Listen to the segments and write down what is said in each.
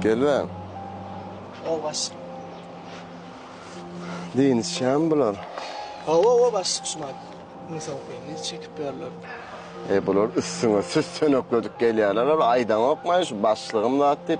Gelibem. Ho baş. Deniz şam bular. Ho ho ho baş şumat. Muny sokayım. Ne çekip berler. E bular üstüne süs sönekledik gelýärler. Aýdaňokmaý şu başlygym zat diýip.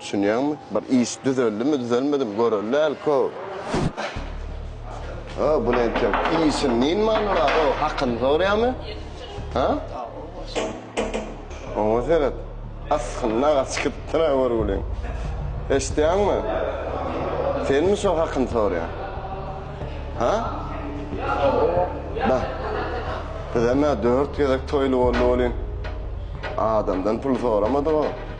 Düşünýäňmi? Bir iş düzeldimi, düzelmedimi göreli dälko. Ho, buny entek işiň nini many bar, ho, hakyny soraýamy? Ha? Oňa seret. Asgynly aga çykypdyr-a görgüliň. Eşidýäňmi? Senmi şo hakyny soraýan? Ha? Bah. Bizem-ä dört gezek toýly boldy welin, adamdan pul soramadyg-ow.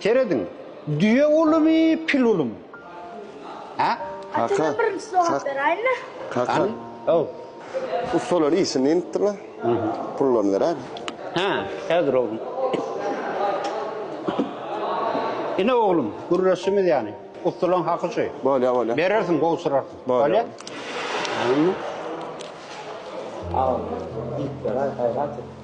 Serediň, düýe ulumy, pil ulumy? Hä? Kaka, kak, kaka, ussalar işini neyinipdirler? Pullaryny beräýeli. Hä, häzir oglum. Ine oglum, gürleşdiňiz ýany. Ussalaň haky şu. Bolýa, bolýa. Berersiň, gowşurarsyň. Bolýa. Bolýa. Awa, diýip beräý, gaýrat et.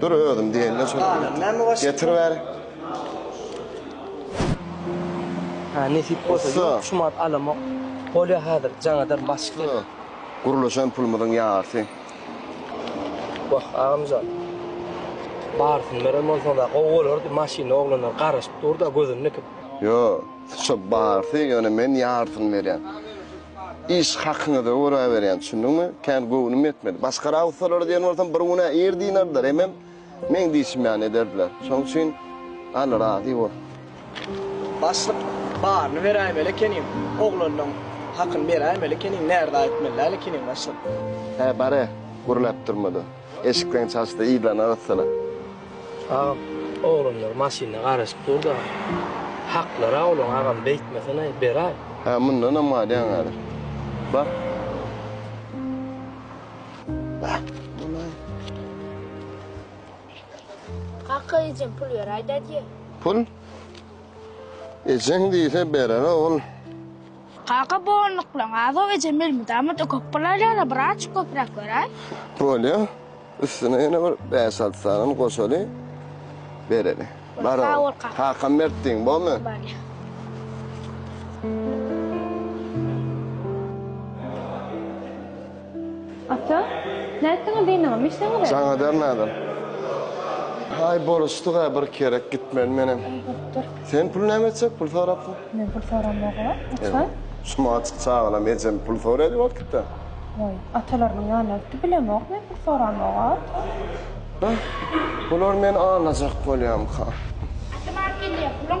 Dur özüm diýende şol getir ber. Ha nesip bolsa ýok şu mat alamok. Bolýa hazir jaňadan basyp gel. Gurluşan pulumyzyň ýarsy. Wah agamjan. Barsyn beren bolsaňda gowy bolardy maşyny oglanlar garaşyp durda gözüni dikip. Ýok şu barsy ýöne men ýarsyny berýän. Iş hakyňyza görä berýän, düşündiňmi? Kän göwnüm ýetmedi. Başga-ra ussalara diýen bolsam, bir gün-ä ir dynardylar, hemem meň diýşim ýaly ederdiler. Şonuň üçin, Alla razy bolsun. Başlyk, Baryny beräýmeli ekeniň. Oglanyň hakyny beräýmeli ekeniň, närza etmeli däl ekeniň, başlyk. Hä, bar-ä, gürläp durma-da. Eşikleň çaşdy yzlana gyssala. Agam oglanlar maşynda garaşyp durda haklara olaň agam beýtmesenaý beraý. Hä mundanam galýaň häzir. Bar. Kaka ejem pul beräý dadýe. Pul? Ejeň diýse berer ogul. Kaka bu onluklaň azow ejem elmydamada köp bolar ýaly birazjyk köpräk beräý. Bolýa. Üstüne ýene bir bäş alty sanam goşaly bereli. Bar ol. Sag bol kaka. Kakam mert diýiň bolmy? Bolýa. Ata, nätdiňiz ynam, içseňize. Jaňadar nadan. Haý, boruşdyk-a bir kerek, gitmeli menem. Bolupdyr. Sen pul näme etjek, pul sorapsyň? Men pul soramok-a, ata. Şu maçyk çagalam ejem pul soraýdy wagtda. Waý, atalarynyň ýanyna gitdi, bilemok men pul soramog-a, ata. Bular meni alajak bolýarmyka? Ata, mant gelýär, puluň.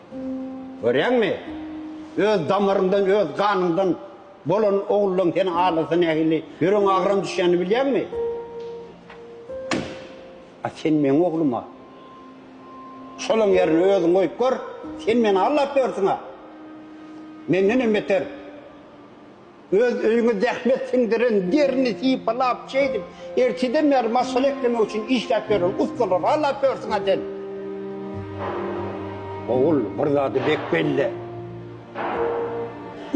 Görýäňmi? Öz damaryňdan, öz ganyňdan bolan ogluň seni aldasa nähili ýüregiň agram düşýänini bilýäňmi? A sen meň ogluma şolaň ýerine özüňi goýup gör, sen meni aldap ýörsüň-ä! Mendenem beter! Öz öýüňe zähmet siňdiren, derini sypalap, şeýdip, erteden bäri maşgala eklemek üçin işläp ýören ussalary halap ýörsüň-ä sen. Ogul, bir zady bek belle.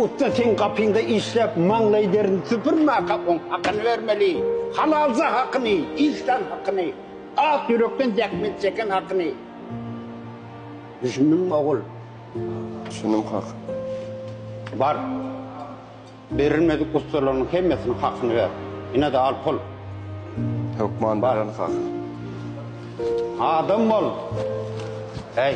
Ussa seň gapyňda işläp, maňlaý derini süpürmäkä oň hakyny bermeli. Halalja hakyny, işlän hakyny, ak ýürekden zähmet çeken hakyny. Düşündiňmi, ogul? Şunuň haky. Bar. Berilmedik ussalaryň hemmesiniň hakyny ber. Ine-de al pul. Hökman bererin kaka. Adam bol. Heý.